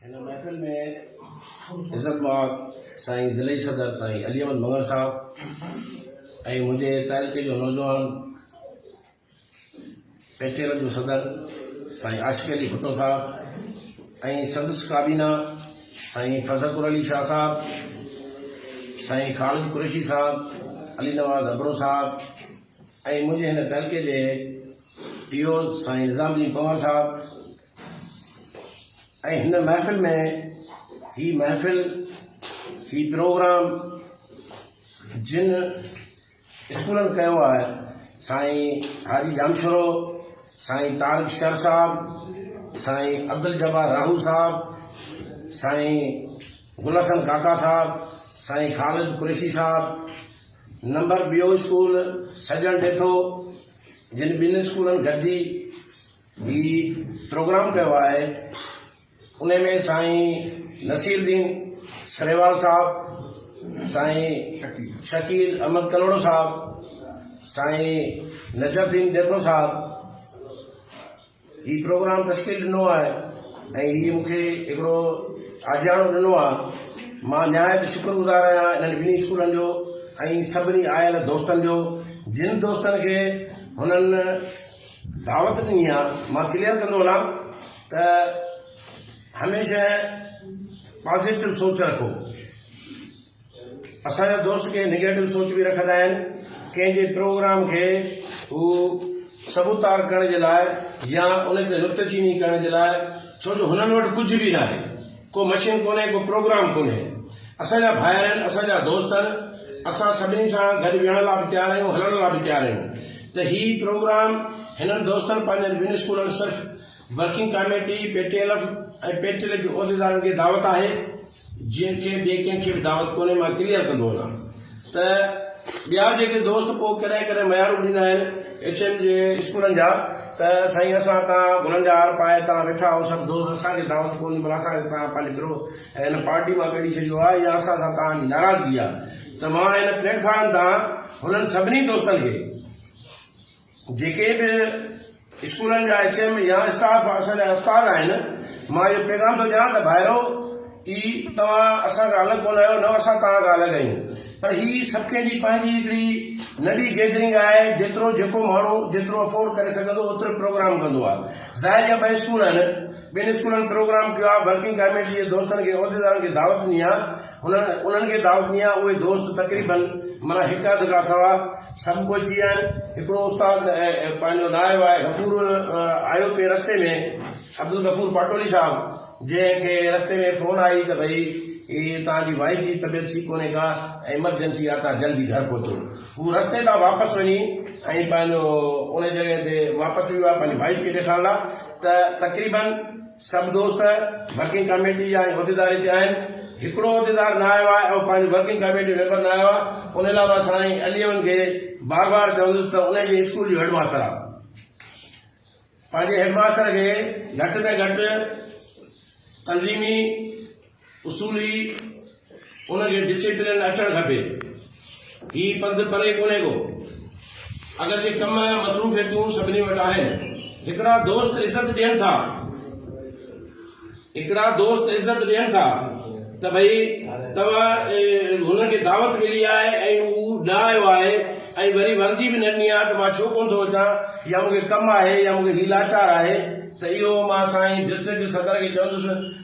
هن محفل ۾ عزت مآب سائين ضلعي صدر سائين علي احمد مڱڻ صاحب ۽ منهنجي تعلقي جو نوجوان پيٽيل جو صدر سائين عاشق علي ڀٽو صاحب ۽ سندس ڪابينا سائين فضڪر علي شاهه صاحب، سائين خالد قريشي صاحب، علي نواز ابڙو صاحب ۽ منهنجي هن تعلقي جي ٽي اوز سائين نظام الدين پنهور صاحب ۽ هن محفل ۾ هي محفل هي پروگرام جن اسڪولن ڪيو آهي سائين حاجي ڄامشورو سائين طارق شر صاحب سائين عبدالجبار راهو صاحب سائين گل حسن ڪاڪا صاحب سائين خالد قريشي صاحب نمبر ٻيو اسڪول سڄڻ ڏيٿو جن ٻن اسڪولن گڏجي هي پروگرام ڪيو آهي انهي ۾ سائين نصير الدين سرهيوال صاحب، سائين شڪيل احمد ڪلهوڙو صاحب، سائين نجف الدين ڏيٿو صاحب هي پروگرام تشڪيل ڏنو آهي ۽ هي مون کي هڪڙو آجياڻو ڏنو آهي مان نهايت شڪر گذار آهيان انهن ٻنهي اسڪولن جو ۽ سڀني آيل دوستن جو جن دوستن کي هنن دعوت ڏني آ مان ڪليئر ڪندو هلان ته هميشه پازيٽو سوچ رکو اسان جا دوست ڪي نيگيٽو سوچ به رکندا آهن ڪنهن جي پروگرام کي هو سبوتار ڪرڻ جي لاء يا ان تي نڪته چيني ڪرڻ جي لاء ڇو جو هنن وٽ ڪجهه به ناهي ڪو مشين ڪونهي ڪو پروگرام ڪونهي اسان جا ڀائر آهن اسان جا دوست آهن اسان سڀني سان گڏ ويهڻ لا به تيار آهيون هلڻ لا به تيار آهيون ته هي پروگرام هنن دوستن پنهنجن ٻن اسڪولن سرف working committee P T L F ۽ P T L F جي عهديدارن کي دعوت آهي جن کي ٻي ڪنهن کي به دعوت ڪونهي مان ڪليئر ڪندو وڃان. ته ٻيا جيڪي دوست پوء ڪڏهن ڪڏهن ميارون ڏيندا آهن ايڇ ايم جي اسڪولن جا ته سائين اسان هتان گلن جا هار پائي هتان ويٺا آهيون سڀ دوست اسان کي دعوت ڪونهي بلا اسان کي تان پنهنجي گروهه ۽ هن پارٽي مان ڪڍي ڇڏيو آهي يا اسان سان تان جي ناراضگي آهي ته مان هن پليٽ فارم تان هنن سڀني دوستن کي جيڪي به اسڪولن جا ايڇ ايم يا اسٽاف اسان جا استاد آهن مان اهو پيغام ٿو ڏيان ته ڀائرو اي توهان اسان کان الڳ ڪونه آهيو نه اسان توهان کان الڳ آهيون پر هي سڀ ڪنهن جي پنهنجي هڪڙي ننڍي گيدرنگ آهي جيترو جيڪو ماڻهو جيترو افورڊ ڪري سگهندو اوترو پروگرام ڪندو آهي ظاهر جا ٻه اسڪول آهن ٻن اسڪولن پروگرام ڪيو آهي ورڪنگ ڪاميٽي جي دوستن کي عهديدارن کي دعوت ڏني آهي هن انهن کي دعوت ڏني آهي. اهي دوست تقريباً معنيٰ هڪ اڌ کان سواء سڀ پهچي ويا آهن. هڪڙو استاد پنهنجو نائب آهي غفور آيو پئي رستي ۾ عبدالغفور پاٽولي صاحب جنهن کي رستي ۾ فون آئي ته ڀئي هي توهان جي وائيف جي طبيعت ٺيڪ ڪونهي ڪا ايمرجنسي آهي توهان جلدي گهر پهچو. هو رستي تان واپس وڃي ۽ پنهنجو انهي جڳهه تي واپس ويو آهي پنهنجي وائيف کي ڏيکارڻ لاء ته تقريباً سڀ دوست ورڪنگ ڪاميٽي جا ۽ عهديدار هتي آهن. هڪڙو عهديدار نه آيو آهي ۽ پنهنجي ورڪنگ ڪاميٽي جو ميمبر نه آيو آهي. ان لاء مان سائين عليون کي بار بار چوندس ته انهي جي اسڪول جو هيڊماستر آهي. پنهنجي هيڊماستر کي گهٽ ۾ گهٽ تنظيمي اصولي ان کي ڊسيپلين اچڻ کپي. هي پنڌ پري ڪونهي ڪو. اگر جي ڪم مصروفيتون سڀني وٽ آهن. هڪڙا دوست عزت ڏين ٿا هڪڙا دوست عزت ڏين ٿا ته ڀئي توهان هنن کي دعوت ملي آهي ۽ هو نه آيو آهي ۽ وري وردي به نه ڏني آهي ته مان ڇو ڪونه ٿو اچان يا مون کي ڪم آهي يا مون کي هي لاچار آهي ته اهو مان سائين ڊسٽرڪٽ صدر کي چوندس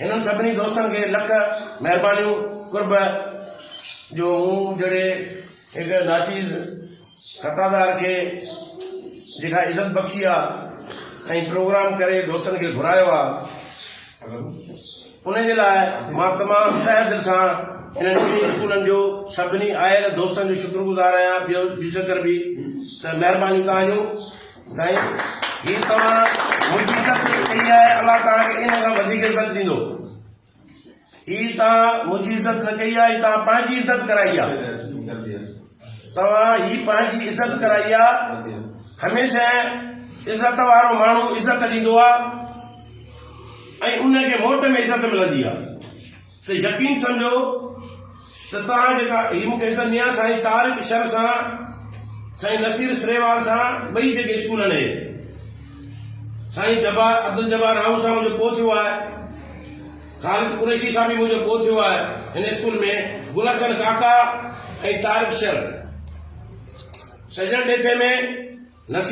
هنن سڀني دوستن کي لک مهربانيون قرب جو مون جهڙي هڪ ناچيز خطادار کي جيڪا عزت بخشي آ ۽ پروگرام ڪري دوستن کي گهرايو آ ان جي لاء مان تمام تهه دل سان هنن ٻنهي اسڪولن جو سڀني آيل دوستن جو شڪرگذار آهيان ٻيو ذڪر به ته مهربانيون تهان جون سائين هي توهان منهنجي عزت ڪئي آهي الله توهان کي ان کان وڌيڪ عزت ڏيندو هي توهان منهنجي عزت نه ڪئي آهي هي توهان پنهنجي عزت ڪرائي آهي توهان هي پنهنجي عزت ڪرائي آهي هميشه عزت وارو ماڻهو عزت ڏيندو آهي ۽ ان کي موٽ ۾ عزت ملندي آهي ته يقين سمجهو ته توهان جيڪا هي مون کي عزت ميان سائين طارق شر سان سائين نصير سريوار سان ٻئي جيڪي اسڪولن هي سائين جبار عبدالجبار راهو سان منهنجو پو ٿيو آهي خالد قريشي سان به منهنجو پو ٿيو آهي هن اسڪول ۾ گل حسن ڪاڪا ۽ طارق شر سڄڻ ڏيٿي ۾ نصير